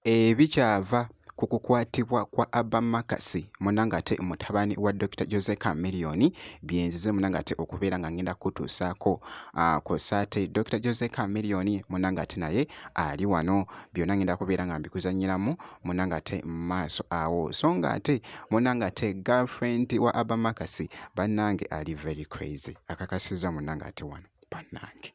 ebikyava ku kukwatibwa kwa Abba Makasi muna ng'ate mutabani wa Dr. Jose Chameleon byenzize muna ng'ate okubeera nga ngenda kutuusaako ku saate Dr. Jose Chameleon muna ng'ate naye ali wano byonna ngenda kubeera nga mbikuzanyiramu muna ng'ate maaso awo so ng'ate muna ng'ate girlfriend wa Abba Makasi bannange ali very crazy akakasizza munnange ate wano bannange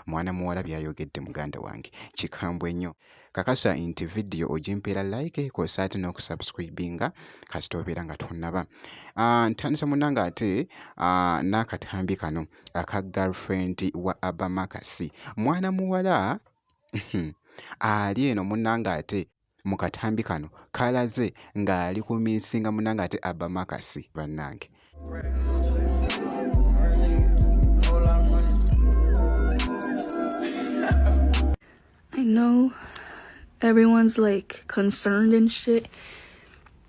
mwana muwala byayogedde muganda wange kikambwe nnyo kakasa nti vidiyo ogimpeera like kosa ate n'okusubscribinga kasita obeera nga tonnaba ah, ntandisa munnange ate ah, n'akatambi kano aka girlfriend wa abamakasi mwana muwala ali eno munnange ate mu katambi kano kalaze ng'ali ku minsinga munange ate abba makasi bannange I know everyone's like concerned and shit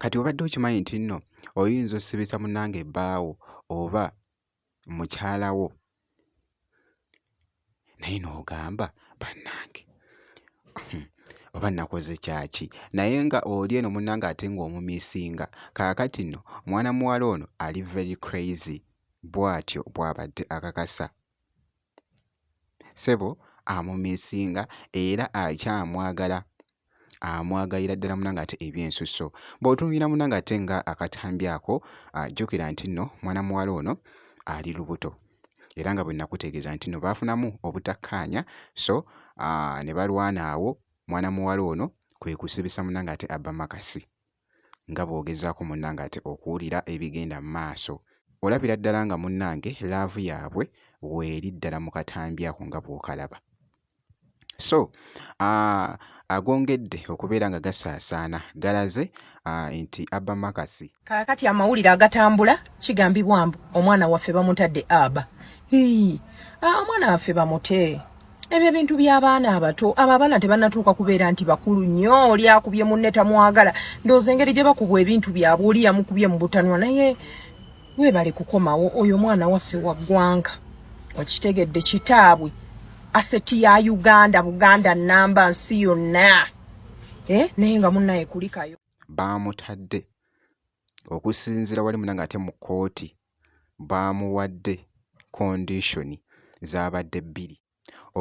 kati obadde okimanyi nti nno oyinza osibisa munange ebbaawo oba mukyala wo naye n'ogamba bannange hmm, oba nakoze kyaki naye nga oli eno munange ate ng'omumisinga kaakati nno mwana muwala ono ali very crazy bw'atyo bw'abadde akakasa ssebo amumisinga era akyamwagala amwagalira ddala muna ng'ate ebyensusso bw'otunuulira muna ng'ate nga akatambi ako ajjukira nti nno mwana muwala ono ali lubuto era nga bwe nakutegeeza nti nno baafunamu obutakkaanya so ne balwana awo mwana muwala ono kwe kusibisa muna ng'ate abba makasi nga bw'ogezaako munnange ate okuwulira ebigenda mu maaso. Olabira ddala nga munnange laavu yaabwe weeri ddala mu katambi ako nga bw'okalaba. So, agongedde okubeera nga gasaasaana galaze nti Abba Makasi. Kaakati amawulire agatambula kigambibwa mbu omwana waffe bamutadde Abba. Hii, omwana waffe bamute. ebyo ebintu by'abaana abato abo abaana tebanatuuka kubeera nti bakulu nnyo oli akubye munne tamwagala ndowooza engeri gye bakubwa ebintu byabwe oli yamukubye mu butanwa naye weebale kukomawo oyo omwana waffe wa ggwanga okitegedde kitaabwe aseti ya uganda buganda namba nsi yonna eh, naye nga munnaye kulikayo baamutadde okusinziira wali muna nga ate mu kkooti baamuwadde kondisoni zaabadde bbiri,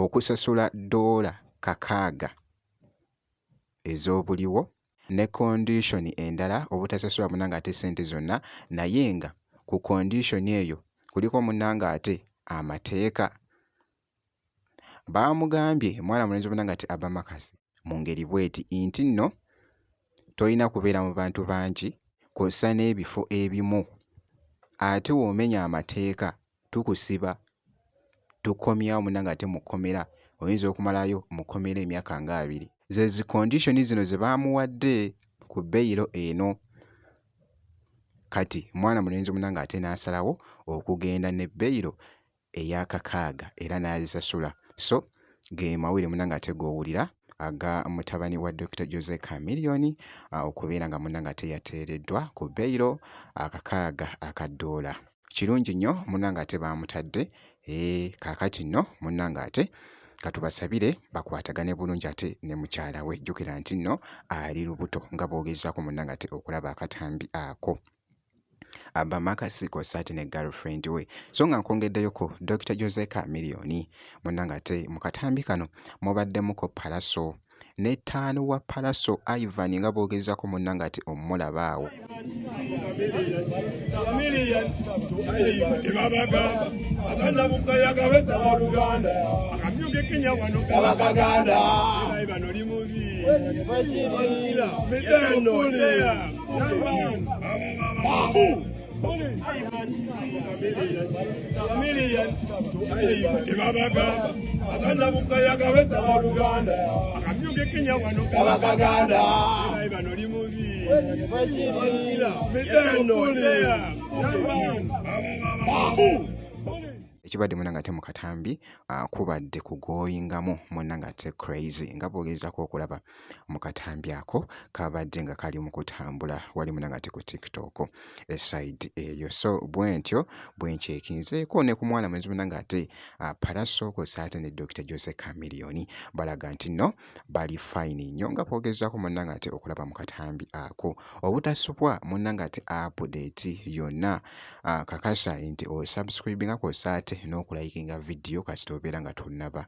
okusasula ddoola kakaaga ez'obuliwo ne kondisoni endala obutasasula munnange ate ssente zonna naye nga ku kondisoni eyo kuliko munnange ate amateeka Baamugambye mwana mulenzi omuna ngati Abamakazi mu ngeri bweti nti nno tolina kubeera mu bantu bangi kw'ossa n'ebifo ebimu ate w'omenya amateeka tukusiba tukomyawo muna ng'ate mu kkomera oyinza okumalayo mu kkomera emyaka nga abiri. Ze zi kondisoni zino ze baamuwadde ku beyiro eno kati mwana mulenzi omuna ng'ate n'asalawo okugenda ne beyiro eyakakaaga era n'azisasula so ge mawulire munange ate g'owulira aga mutabani wa Dokita Jose Chameleon okubeera nga munange ate yateereddwa ku beyiro akakaaga aka ddoola kirungi nnyo munange ate baamutadde ee kaakati nno munange ate katubasabire bakwatagane bulungi ate ne mukyala we jjukira nti nno ali lubuto nga boogezaako munange ate okulaba akatambi ako abamakasi kw'ossa ate ne girlfriend we so nga nkwongeddeyoko Dr Jose Chameleone munna ng'ate mu katambi kano mubaddemuko palaso ne ttaano wa palaso Ivan nga boogezaako munna ng'ate omulaba awo Kenya ekibadde muna ngate mukatambi ah, kubadde kugoyingamu muna ngate crazy nga bwogezako okulaba mu katambi ako kabadde nga kali mu kutambula wali muna ngate ku tiktok eside eyo so bwentyo bwenkyekinzeeko ne ku mwana mwenzi muna ngate ah, paraso kwosa ate ne dr jose camilioni balaga nti no bali fine nnyo nga kwogezako muna ngate okulaba mu katambi ako obutasubwa muna ngate apudeti yonna ah, kakasa nti osubscribe nga kwosa ate n'okulayikinga vidiyo kasita obeera nga tonaba